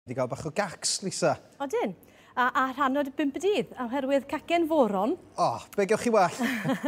Di gael bach o gacs, Lisa? Odyn. A, a rhan o'r bimp y dydd, oherwydd cacen foron. O, oh, be gewch chi well?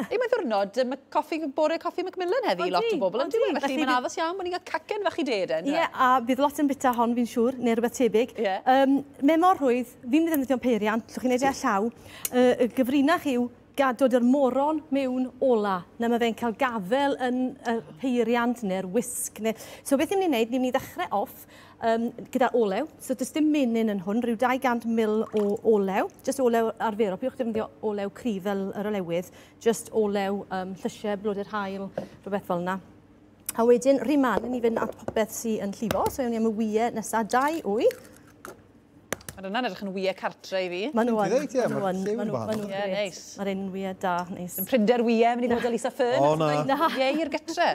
Ei, mae ddwrnod um, coffi, bore coffi Macmillan heddi i lot o bobl. Odi, odi. Felly mae'n addas iawn bod ni'n cael cacen fach i de, den. Ie, a bydd lot yn bita hon fi'n siŵr, neu rhywbeth tebyg. Ie. Um, me mor rhwydd, fi'n mynd ddefnyddio'n peiriant, llwch chi'n ei deall llaw. Uh, y gyfrinach yw gadod yr moron mewn ola. Na mae fe'n cael gafel yn y peiriant neu'r wisg. Neu... So beth ni'n mynd i wneud, ni'n mynd i ddechrau off um, gyda olew. So does dim menyn yn hwn, rhyw 200 mil o olew. Just olew arferol, pywch defnyddio olew cryf fel yr olewydd. Just olew um, llysiau, blodau'r hael, rhywbeth fel yna. A wedyn, rhy man, ni fynd at popeth sy'n llifo. So ewn ni am y wyau nesaf, dau wy. Mae hwnna'n edrych yn wy e cartre i fi. Ma' nhw yn, ma' nhw yn, ma' nhw yn grêt. Ma'r enwiau da, neis. Dim prinder wy e, mynd i fod o Lisa Fern. O na. Na. Ie i'r gytre.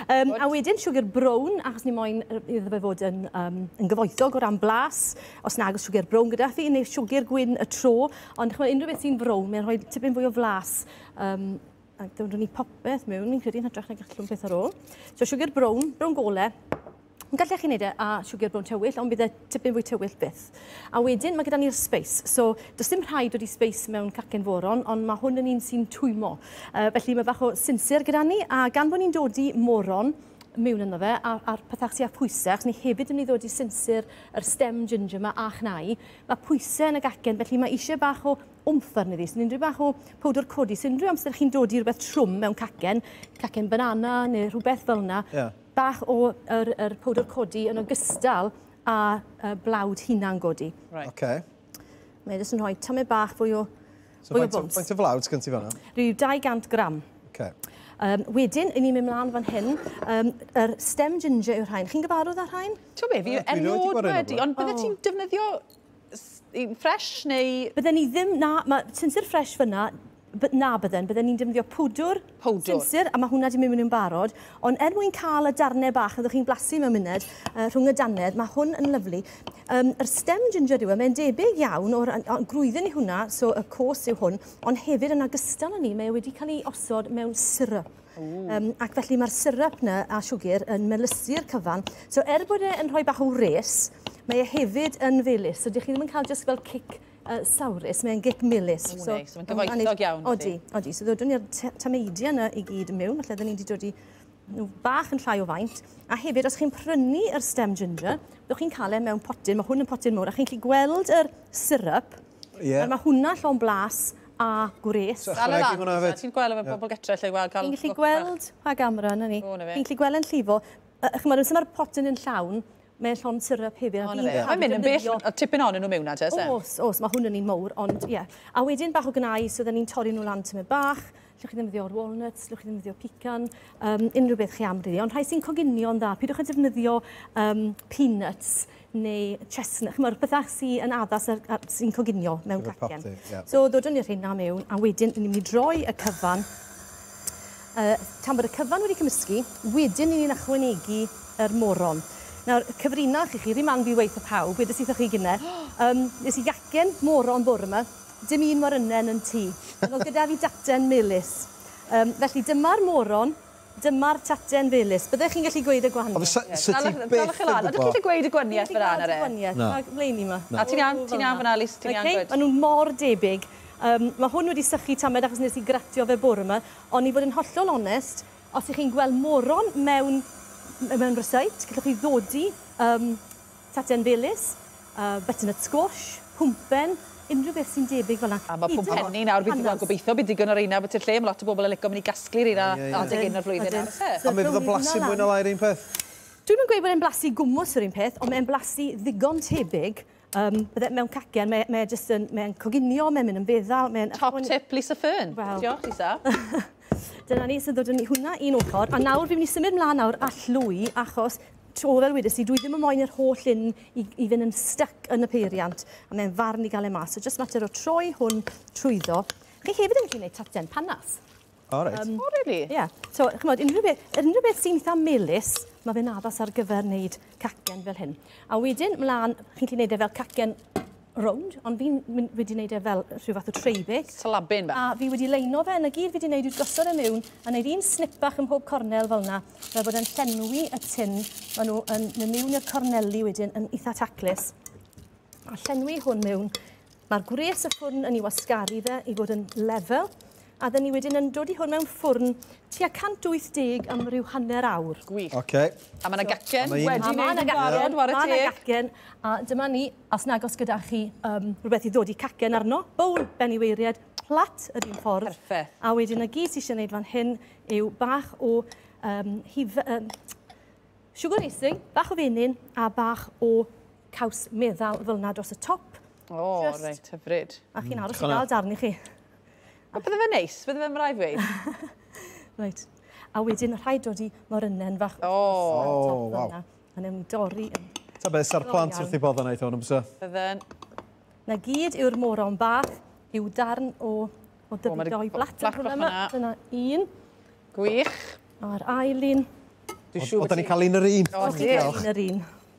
A wedyn siwgr brown, achos ni moyn iddo fe fod yn gyfoethog o ran blas, os nag oes siwgr brown gyda thi, neu siwgr gwyn y tro, ond ch'mod unrhyw beth sy'n frown, mae'n rhoi tipyn fwy o flas. Um, ac rwy'n ni popeth mewn, fi'n credu yn hytrach na gallwn peth ar ôl. So siwgr brown, brown gole, Gallech chi wneud e a siwgr brown tywyll, ond bydd e tipyn fwy tywyll byth. A wedyn, mae gyda ni'r space. So, does dim rhaid wedi space mewn cacen foron, ond mae hwn yn un sy'n twymo. Uh, felly mae bach o sinsir gyda ni, a gan bod ni'n dod i moron, mewn yno fe, a'r, ar pethau sy'n pwysau, achos ni hefyd yn mynd i ddod i sinsir yr stem ginger yma a chnau, mae pwysau yn y gacen, felly mae eisiau bach o wmff arni fi. Sy'n unrhyw bach o powdr codi, sy'n unrhyw amser chi'n dod i rhywbeth trwm mewn cacen, cacen banana neu rhywbeth fel yna, yeah. Bach o yr, yr powdr codi yn ogystal â uh, blawd hunan godi. Right. Okay. Mae'n jyst yn rhoi tymed bach fwy o, so fwy o bwns. Faint o flawd sgyn ti fanna? Rhyw 200 gram. Okay. Um, wedyn, i ni mynd mlaen fan hyn, um, yr stem ginger yw'r rhain. Chi'n gyfarwydd â'r rhain? Ti'n be, fi erioed wedi, ond bydde oh. ti'n defnyddio Yn ffresh neu...? Bydden ni ddim, na, mae sinsir ffresh fyna, by- na bydden, bydden ni'n defnyddio powdwr... Powdwr. ...sinsir a mae hwnna 'di mynd mewn yn barod, ond er mwyn cael y darnau bach fyddwch chi'n blasu mewn munud yy rhwng y dannedd, mae hwn yn lyfli. Yym yr stem ginger yw e, mae'n debyg iawn o'r yy o grwydden i hwnna, so y cos yw hwn, ond hefyd yn ogystal â 'ny mae e wedi cael ei osod mewn syrup. Um, ac felly mae'r syrup na a siwgr yn melysu'r cyfan. So er bod e'n rhoi bach o wres, mae e hefyd yn felus. So dych chi ddim yn cael just fel cic uh, sawrus, mae'n gic melus. O, so, neis, mae'n gyfoethog iawn. Odi, odi. So ddodwn ni'r tameidiau yna i gyd yn mewn, felly dyn ni wedi dod i nhw bach yn llai o faint. A hefyd, os chi'n prynu yr stem ginger, ddwch chi'n cael e mewn potyn, mae hwn yn potyn mawr, a chi'n gallu gweld yr syrup, yeah. a mae hwnna llon blas a gwres. Dal e lan, ti'n gweld efo pobl getre lle gweld cael... Chi'n gallu gweld pa gamera yna ni. Chi'n gallu gweld yn llifo. Chymod, os mae'r pot yn llawn, mae'n llond syrup hefyd. Ond fe, mae'n mynd yn bell, a tipyn o'n nhw mewn na, te, Os, os, mae hwn yn un mowr, ond ie. Yeah. A wedyn bach o gynau, so dda ni'n torri nhw lan tymed bach, lle chi ddefnyddio o'r walnuts, lle chi ddefnyddio pican, um, unrhyw beth chi am ryddi. Ond rhai sy'n coginio'n dda, pidwch a defnyddio um, peanuts, neu chestnut, ch'mod bethau sy yn addas a a sy'n coginio mewn Gyda cacen. popty, ie. So ddodwn ni â rheina mewn a wedyn ni'n mynd i droi y cyfan. Yy tan bod y cyfan wedi cymysgu, wedyn ni'n ychwanegu yr moron. Nawr, cyfrinach i chi, rhy man fi weud 'tha pawb, wedes i 'tha chi gynne, yym nes i gacen moron bore 'ma, dim un morynen yn tŷ, ond o'dd gyda fi daten melys. Yym felly dyma'r moron. Dyma'r taten felys. Byddech chi'n gallu gweud y gwahaniaeth ie. Ond sa ti byth yn gwybod. Ydych chi 'di gweud y gwanieth fyna yn yr e? Na. Mae mlaeni 'ma. Na. Ti'n iawn, ti'n iawn fyna Lis, ti'n iawn gwed. Oce, ma' nhw mor debyg. Yym, ma' hwn wedi sychu tamed achos nes i gratio fe bore 'ma, ond i fod yn hollol onest, os 'ych chi'n gweld moron mewn mewn rysáit, gellwch chi ddodi yym Tatian Felys, yy butternut squash, pwmpen, unrhyw beth sy'n debyg fel 'na. A ma' pwmpenni nawr fi'n gweld gobeithio bydd digon o reina am byti i'r lle, ma' lot o bobl yn lico mynd i gasglu reina adeg hyn o'r flwyddyn nawr o's e? A mi fydd o'n blasu mwy na lai 'r un peth? Dwi'm yn gweud bod e'n blasu gwmws yr un peth ond mae e'n blasu ddigon tebyg yym bydde mewn cacen mae e mae e jyst yn mae e'n coginio mae'n mynd yn feddal mae'n... Top tip Lisa Fearn! Wel... Diolch Lisa. Dyna ni sy'n dod â ni hwnna un ochr a nawr fi'n mynd i symud mlan nawr a llwy achos 'to fel wedes i dwi ddim yn moyn yr holl un i i fyn' yn styc yn y peiriant a mae'n farn i ga'l e mas so jyst mater o troi hwn trwyddo. Chi hefyd yn gallu neud tarten panas. O reit. Yym. O rili? Ie. So ch'mod unrhyw be- yr unrhyw beth sy'n itha melys ma' fe'n addas ar gyfer neud cacen fel hyn. A wedyn mlan chi'n gallu neud e fel cacen rownd, ond fi'n mynd... wedi wneud e fel rhyw fath o tray bake. Slabin bach. A fi wedi leino fe, 'na gyd fi 'di neud yw gosod e miwn, a neud un snip bach ym mhob cornel fel 'na, fel bod e'n llenwi y tin. Ma' nw yn myn' miwn i'r corneli wedyn yn itha taclus. A llenwi hwn miwn. Ma'r gwres y ffwrn yn 'i wasgaru fe i fod yn lefel. A dden ni wedyn yn dod i hwn mewn ffwrn tua 180 am ryw hanner awr. Gwych. Oce. A ma' 'na gacen wedi neud yn barod, ware teg. Ma' 'na gacen, a dyma ni, os nag os gyda chi yym rwbeth i ddodi cacen arno, bowl ben i weiried, plat yr un ffordd. Perffeth. A wedyn 'na gyd sy isie neud fan hyn yw bach o yym hufe- yym siwgr icing, bach o fenyn a bach o caws meddal fel 'na dros y top. O reit hyfryd. A chi'n aros i ga'l darn i chi. A bydde fe neis, bydde fe mrai ddweud. Reit. A wedyn rhaid dod i morynnen fach. O, oh, waw. A newn ni dorri yn. Ta beth, sa'r plant wrth i bod yna i thon, bysa? Bydden. Na gyd yw'r moron bach, yw darn o, o dyfu doi blat yn hwnna yma. Dyna un. Gwych. A'r ail un. Dwi'n siŵr bod... Oedden ni'n cael un yr un. Oedden ni'n cael un yr un.